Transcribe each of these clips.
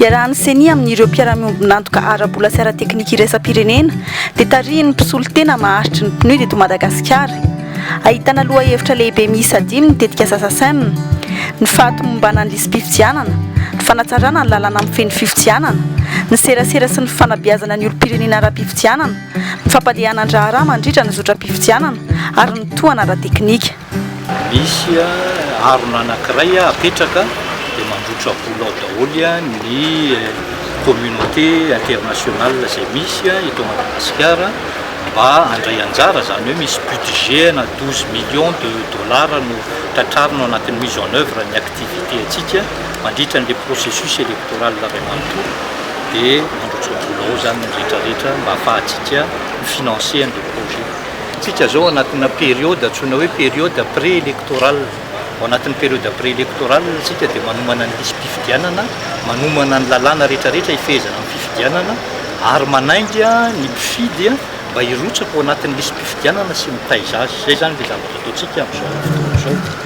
Iarahan'ny Ceni amin'ireo mpiara-miombon'antoka ara-bola sy ara-teknika iraisam-pirenena dia tarihin'ny mpisolo tena maharitry ny PNUD eto Madagasikara. Ahitana lohahevitra lehibe miisa dimy ny tetikasa Sacem, ny fahatomombanan'ny lisi-pifidianana, ny fanatsarana ny lalàna mifehy ny fifidianana, ny serasera sy ny fanabeazana ny olom-pirenena ara-pifidianana, ny fampandehana ny raharaha mandritra ny zotram-pifidianana ary ny tohana ara-teknika. Misy harona anankiray apetraka dia mandrotra vola ao daholo ny communauté internationale izay misy eto Madagasikara mba handray anjara, izany hoe misy budget ana douze millions de dollars no tratrarina ao anatin'ny mise en oeuvre ny activité antsika mandritra an'ilay processus électoral iray manontolo dia mandrotra vola ao izany ny rehetra rehetra mba hahafahantsika mi-financer an'ilay projet. Isika izao anatina période antsoina hoe période pré-électorale. Ao anatin'ny période pré-électorale isika dia manomana ny lisi-pifidianana, manomana ny lalàna rehetrarehetra hifehezana ny fifidianana ary manainga ny mpifidy mba hirotsaka ao anatin'ny lisi-pifidianana sy mitaiza azy. Izay izany ilay zavatra ataontsika amin'izao fotoana izao.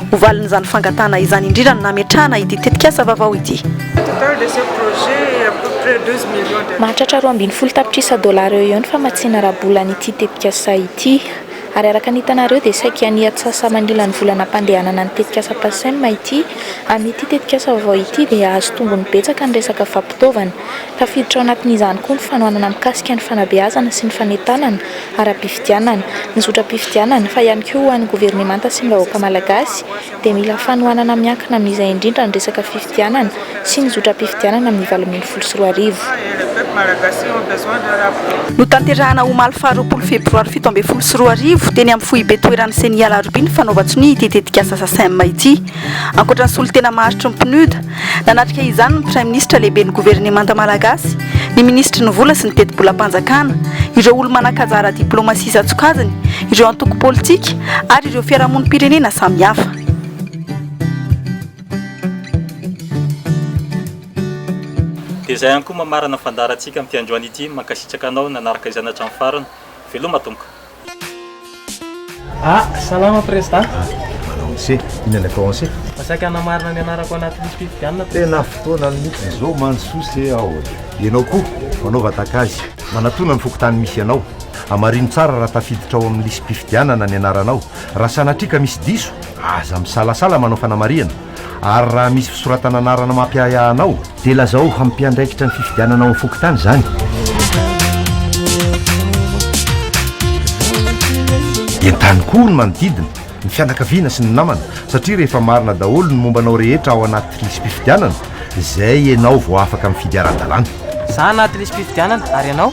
Ho valin'izany fangatahana izany indrindra no nametrahana ity tetikasa vaovao ity. Mahatratra roa ambin'ny folo tapitrisa dolara eo ho eo ny famatsiana ara-bolan'ity tetikasa ity. Ary araka ny hitanareo dia saiky any atsasa-manila ny vola nampandehanana ny tetikasa Pasem ity. Amin'ity tetikasa vaovao ity dia hahazo tombony betsaka ny resaka fampitaovana. Tafiditra ao anatin'izany koa ny fanohanana mikasika ny fanabeazana sy ny fanentanana. ara-pifidianana, ny zotram-pifidianana, fa ihany koa ho an'ny governemanta sy ny vahoaka malagasy, dia mila fanohanana miankina amin'izay indrindra ny resaka fifidianana sy ny zotram-pifidianana amin'ny valo ambin'ny folo sy roa arivo. Notanterahina omaly faharoapolo febroary fito ambin'ny folo sy roa arivo, teny amin'ny foibe toeran'ny Ceni Alarobia ny fanaovan-tsonia ity tetikasa Sasem ity. Ankoatra ny solontena maharitry ny PNUD, nanatrika izany ny Praiminisitra Lehiben'ny Governemanta Malagasy, ny Minisitry ny Vola sy ny Tetibolam-panjakana, ireo olo-manan-kajara diplaomasia isan-tsokajiny, ireo antoko politika ary ireo fiarahamonim-pirenena samihafa. Dia izay ihany koa mamarana ny fandaharantsika amin'ny fiandroan'ity, mankasitraka anao nanaraka izany hatramin'ny farany. Veloma Tompo. Ah, salama President. Ah, manao ny se, inona ilay tao anse? Masaika hanamarina ny anarako anaty lisy fifidianana President. Tena fotoana mihitsy izao mandrosoa se ao. Ianao koa, manao vatakazy, manatona ny fokontany misy anao. Hamarino tsara raha tafiditra ao amin'ny lisy mpifidianana ny anaranao. Raha sanatria ka misy diso, aza misalasala manao fanamarihana. Ary raha misy fisoratana anarana mampiahiahy anao, dia lazao ho mpiandraikitra ny fifidianana ao amin'ny fokontany izany. Entano koa ny manodidina, ny fianakaviana sy ny namana, satria rehefa marina daholo ny momba anao rehetra ao anaty lisi-pifidianana, izay ianao vao afaka mifidy ara-dalàna. Za anaty lisi-pifidianana, ary ianao?